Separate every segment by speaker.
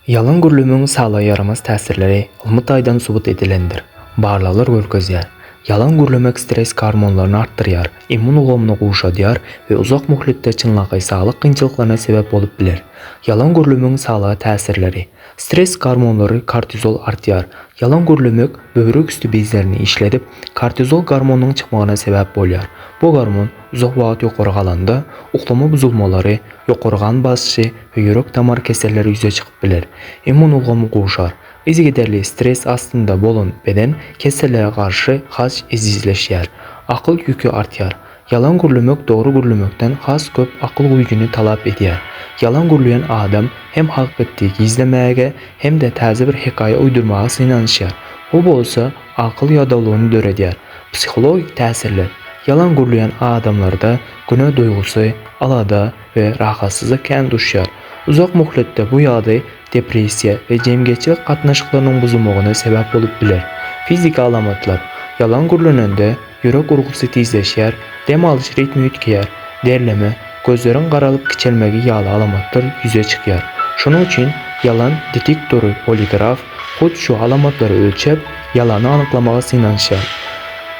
Speaker 1: Ýalyn gürlemegiň saglyga ýaramaz täsirleri ylmy taýdan subut edilendir. Barlaglar görkezýär, ýalyn gürlemek stres gormonlaryny artdyrýar, immun ulgamyny gowşadýar we uzak möhletde çynlakaý saglyk kynçylyklaryna sebäp bolup biler. Ýalyn gürlemegiň saglyga täsirleri. Stres gormonlary kortizol artýar. Ýalyn gürlemek böwrek üsti bezlerini işledip, kortizol gormonynyň çykmagyna sebäp bolýar. Bu gormon. Uzak wagt ýokary galanda, uklama buzulmalary, ýokary gan basyşy we ýürek-damar keselleri ýüze çykyp biler. Immun ulgamy gowşar. Yzygiderli stres astynda bolan beden kesellere garşy has ejizleşýär. Akyl ýüki artýar. Ýalan gürlemek dogry gürlemekden has köp akyl güýjüni talap edýär. Ýalan gürleýän adam hem hakykatdy gizlemäge, hem-de täze bir hekaýa uýdurmaga synanyşýar. Bu bolsa akyl ýadawlygyny döredýär. Psihologik täsirler. Ýalan gürleýän adamlarda günä duýgusy, alada we rahatsyzlyk kän duşýar. Uzak möhletde bu ýagdaý depressiýa we jemgyýetçilik gatnaşyklarynyň buzulmagyna sebäp bolup biler. Fiziki alamatlar. Ýalan gürlenende ýürek urgusy tizleşýär, dem alyş ritmi üýtgeýär, derleme, gözleriň garalyp kiçelmegi ýaly alamatlar ýüze çykýar. Şonuň üçin ýalan detektory poligraf, hut şu alamatlary ölçäp, ýalany anyklamaga synanyşýar.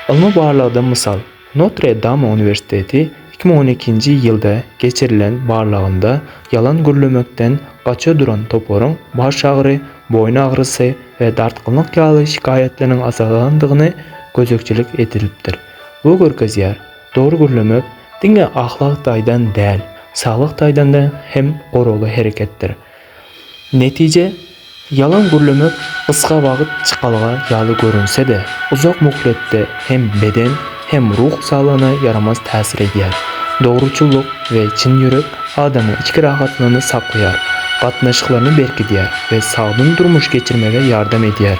Speaker 1: Ylmy barlagda mysal, Notre-Dame uniwersiteti iki müň on ikinji ýylda geçirilen barlagynda ýalan gürlemekden gaça duran toparyň baş agyry, boýun agyrysy we dartgynlyk ýaly şikaýatlarynyň azalandygyny gözegçilik edilipdir. Bu görkezýär, dogry gürlemek diňe ahlak taýdan däl, saglyk taýdan hem goragly hereketdir. Netije, ýalan gürlemek gysga wagt çykalga ýaly görünse-de, uzak möhletde hem beden, hem ruh saglygyna ýaramaz täsir edýär. Dogruçyllyk we çyn ýürek adamyň içki rahatlygyny saklaýar, gatnaşyklaryny berkidýär we sagdyn durmuş geçirmege ýardam edýär.